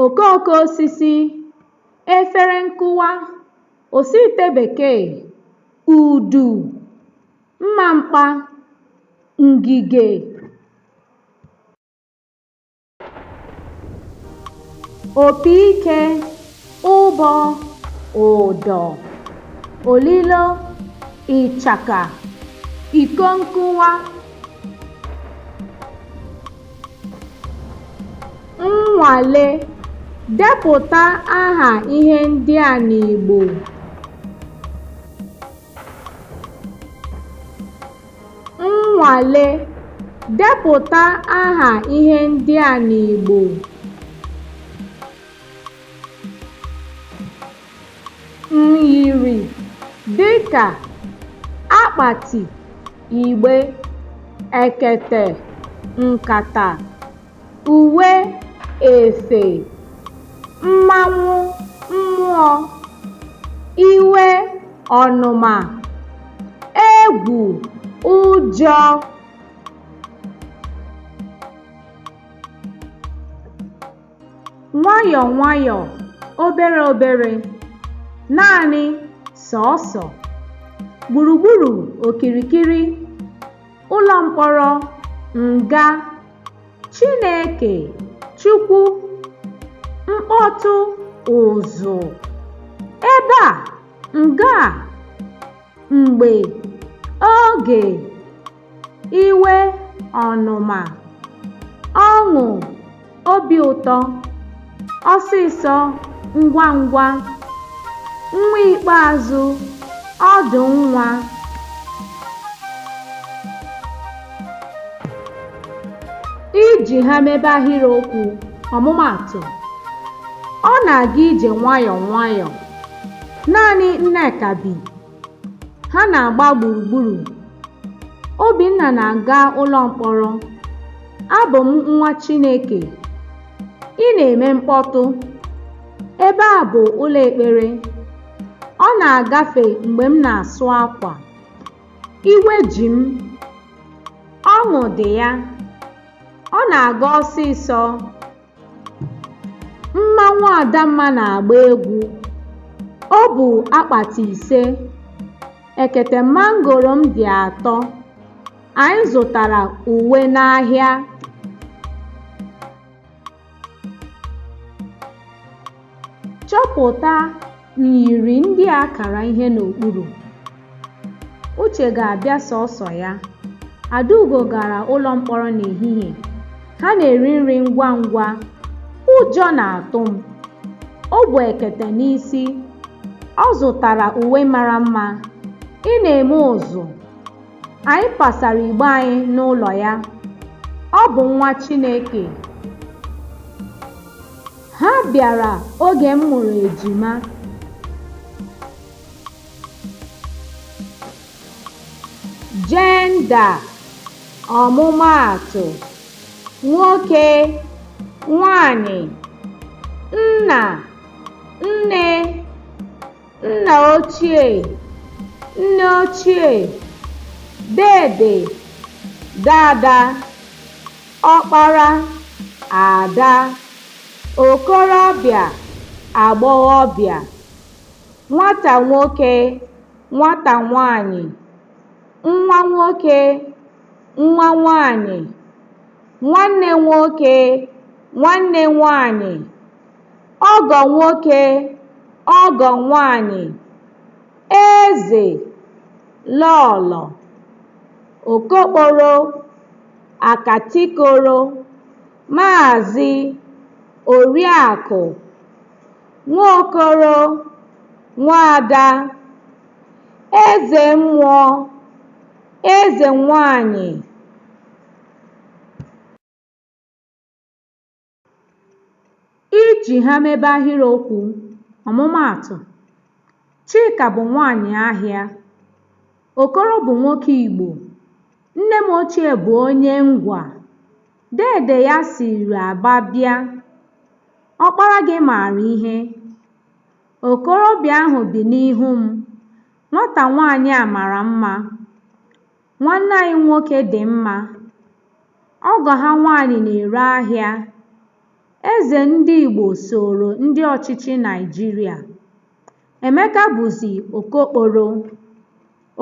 okooko osisi efere nkụwa osiite bekee udu mma mkpa ngige opi ike ụbọ ụdọ olilo ịchaka iko nkụwa nnwale depụta aha ihe ndị a n'Igbo nnwale depụta aha ihe ndị a n'Igbo myiri dịka akpati igbe ekete nkata uwe efe mmanwụ mmụọ iwe ọnụma egwu ụjọ nwayọọ nwayọọ obere obere naanị sọọsọ gburugburu okirikiri ụlọ mkpọrọ nga Chineke Chukwu mkpọtụ ụzụ ebe a nga a mgbe oge iwe ọnụma ọṅụ obi ụtọ ọsịsọ ngwa ngwa nwa ikpeazụ ọdụ nwa iji ha mebe ahịrịokwu ọmụmaatụ ọ na-aga ije nwayọọ nwayọọ naanị Nneka bi Ha na-agba gburugburu. Obinna na-aga ụlọ mkpọrọ. Abụ m nwa Chineke. Ị na-eme mkpọtụ. Ebe a bụ ụlọ ekpere. Ọ na-agafe mgbe m na-asụ akwa. Iwe ji m. Ọṅụ dị ya. Ọ na-aga ọsịsọ. Mmanwụ Adamma na-agba egwu. O bu akpati ise. Ekete mangoro m dị atọ. Anyị zụtara uwe n'ahịa. Chọpụta Myiri ndị a kara ihe n'okpuru. Uche ga-abịa sọọsọ ya. Adaugo gara ụlọ mkpọrọ n'ehihie. Ha na-eri nri ngwa ngwa. Ụjọ na-atụ m. O bu ekete n'isi. Ọ zụtara uwe mara mma. Ị na-eme ụzụ. Anyị pasara igbe anyị n'ụlọ ya. Ọ bụ nwa Chineke. Ha bịara oge m mụrụ ejima. Jenda, ọmụmaatụ, nwoke, nwanyị, nna, nne, nna ochie nne ochie dede dada ọkpara ada okorobịa agbọghọbịa nwata nwoke nwata nwanyị nwa nwoke nwa nwanyị nwanne nwoke nwanne nwanyị ọgọ nwoke ọgọ nwaanyị eze lọọlọ okokporo akatikoro maazị oriakụ nwaokoro nwaada eze mmụọ eze nwaanyị Iji ha mebe ahịrịokwu, ọmụmaatụ, Chika bụ nwaanyị ahịa. Okoro bụ nwoke Igbo. Nne m ochie bụ onye Ngwa. Deede ya siri Aba bịa. Ọkpara gị maara ihe. Okorobịa ahụ bi n'ihu m. Nwata nwaanyị a mara mma. Nwanne anyị nwoke dị mma. Ọgọ ha nwaanyị na-ere ahịa. Eze ndị Igbo sooro ndị ọchịchị Naịjirịa. Emeka bụzi okokporo.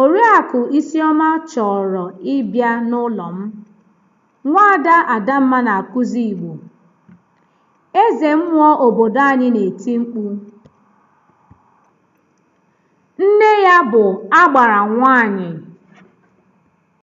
Oriakụ Isioma chọrọ ịbịa n'ụlọ m. Nwaada Adamma na-akụzi Igbo. Eze mmụọ obodo anyị na-eti mkpu. Nne ya bụ agbara nwaanyị.